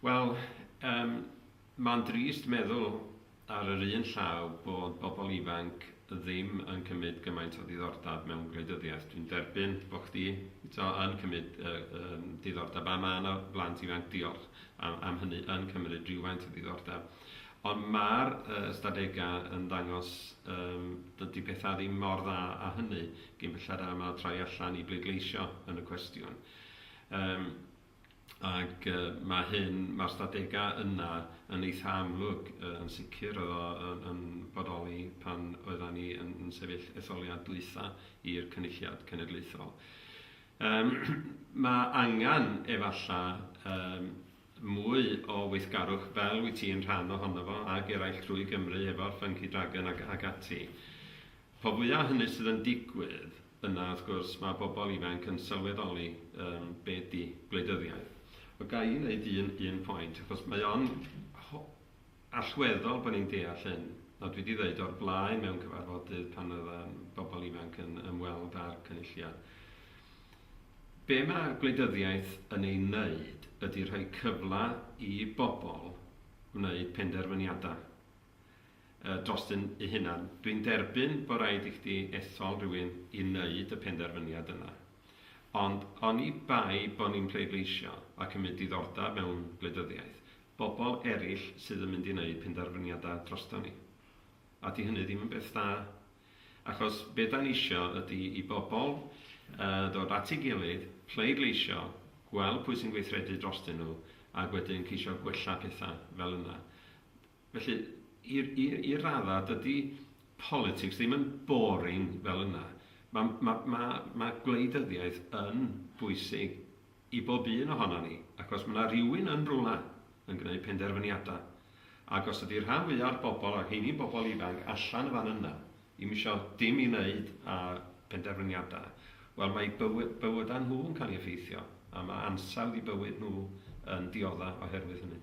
Wel, yym, mae'n drist meddwl ar yr un llaw bod bobl ifanc ddim yn cymryd gymaint o ddiddordeb mewn gwleidyddiaeth. Dwi'n derbyn bod chdi t'o' yn cymryd yy yym diddordeb a ma' 'na blant ifanc, diolch am am hynny, yn cymryd rywfaint o ddiddordeb. Ond ma'r yy ystadegau yn dangos yym dydi petha ddim mor dda â hynny, cyn belled â ma' troi allan i bleidleisio yn y cwestiwn. Yym. ac yy ma' hyn, ma'r ystadegau yna yn eitha' amlwg, yy yn sicr oedd o yn yn bodoli pan oeddan ni yn yn sefyll etholiad dwytha i'r Cynulliad Cenedlaethol. Yym ma' angan efalla' yym mwy o weithgarwch fel wyt ti'n rhan ohono fo ag eraill drwy Gymru efo'r Funky Dragon ag ag ati. Pa fwya hynny sydd yn digwydd, yna wrth gwrs mae pobl ifanc yn sylweddoli yym be ydy gwleidyddiaeth. Ond ga i wneud un un pwynt, achos mae o'n ho- allweddol bod ni'n deall hyn, a dwi 'di ddeud o'r blaen mewn cyfarfodydd pan oedd yym bobl ifanc yn ymweld â'r Cynulliad, be mae gwleidyddiaeth yn ei wneud ydy rhoi cyfle i bobl wneud penderfyniadau. dros dy dy hunan. Dwi'n derbyn bo raid i chdi ethol rhywun i neud y penderfyniad yna. Ond oni bai bo ni'n pleidleisio a cymyd diddordab mewn gwleidyddiaeth, bobl erill sydd yn mynd i neud penderfyniada droston ni. A di hynny ddim yn beth da. Achos be da nisio ydi i bobl ddod at ei gilydd, pleidleisio, gweld pwy sy'n gweithredu drostyn nhw, ag wedyn ceisio gwella petha fel yna. Felly, i, i, i raddau, dydy politics ddim yn boring fel yna. Mae, mae, mae, mae gwleidyddiaeth yn bwysig i bob un ohono ni, ac os mae yna rhywun yn rhywle yn gwneud penderfyniadau, ac os ydy'r rhan fwyaf o'r bobl, a heini bobl ifanc, allan y fan yna, i misio dim i wneud â penderfyniadau, wel mae bywy, bywydau nhw yn cael ei effeithio, a mae ansawdd i bywyd nhw yn diodda oherwydd hynny.